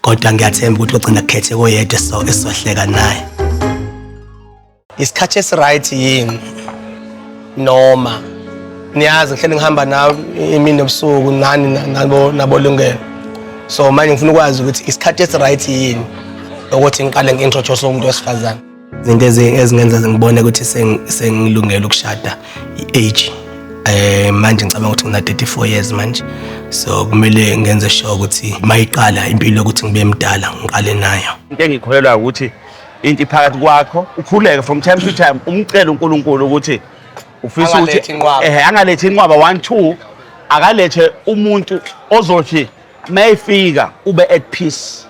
kodwa ngiyathemba ukuthi ogcina kukhethe koyedwa so esohleka naye isikhathi esiright yini noma niyazi ngihlele ngihamba nawe imini nobusuku nani nabo nabolungelo so manje ngifuna ukwazi ukuthi isikhathi esiright yini ukuthi ngiqale ngi-introduce umuntu wesifazane izinto ezingenza ngibone ukuthi sengilungele ukushada i-age um manje ngicabanga ukuthi ngina-34 years manje so kumele ngenze sure ukuthi uma iqala impilo yokuthi ngibe mdala ngiqale nayo into engikholelwa ukuthi into iphakathi kwakho ukhuleke from time to time umcele unkulunkulu ukuthi ufisa ukuthi eh angalethi inqwaba 1 2 akalethe umuntu ozothi mayifika ube at peace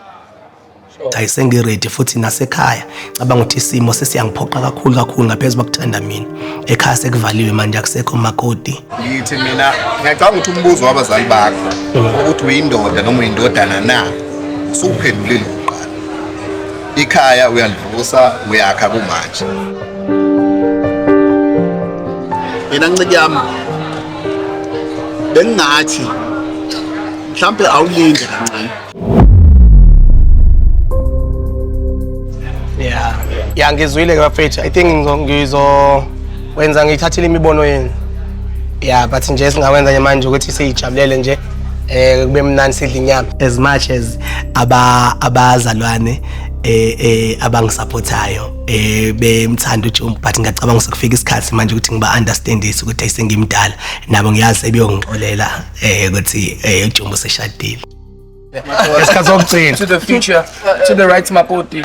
Hayi sengiready futhi nasekhaya cabanga ukuthi isimo sesiyangiphoqa kakhulu kakhulu ngaphezu kokuthanda mina. Ekhaya sekuvaliwe manje akusekho makoti. Ngithi mina ngiyacabanga ukuthi umbuzo wabazali bakho ukuthi uyindoda noma uyindodana na usuphendulile ukuqala. Ikhaya uyalivusa uyakha kumanje. Yena ncike yami bengingathi mhlampe awulinde kancane Yeah. Yeah, ngizwile ke bafethu. I think ngizo- ngizo wenza ngiyithathile imibono yenu. Yeah, but nje esingawenza nje manje ukuthi siyijabulele nje eh kube mnandi sidle inyama. As much as aba abazalwane eh eh abangisupportayo eh bemthanda uJumbo but ngiyacabanga sekufika isikhathi manje ukuthi ngiba understandise ukuthi ayisengimdala nabo ngiyazi sebeyongixolela eh ukuthi eh uJumbo seshadile. ngesikhathi sokugcina to the future to the right makoti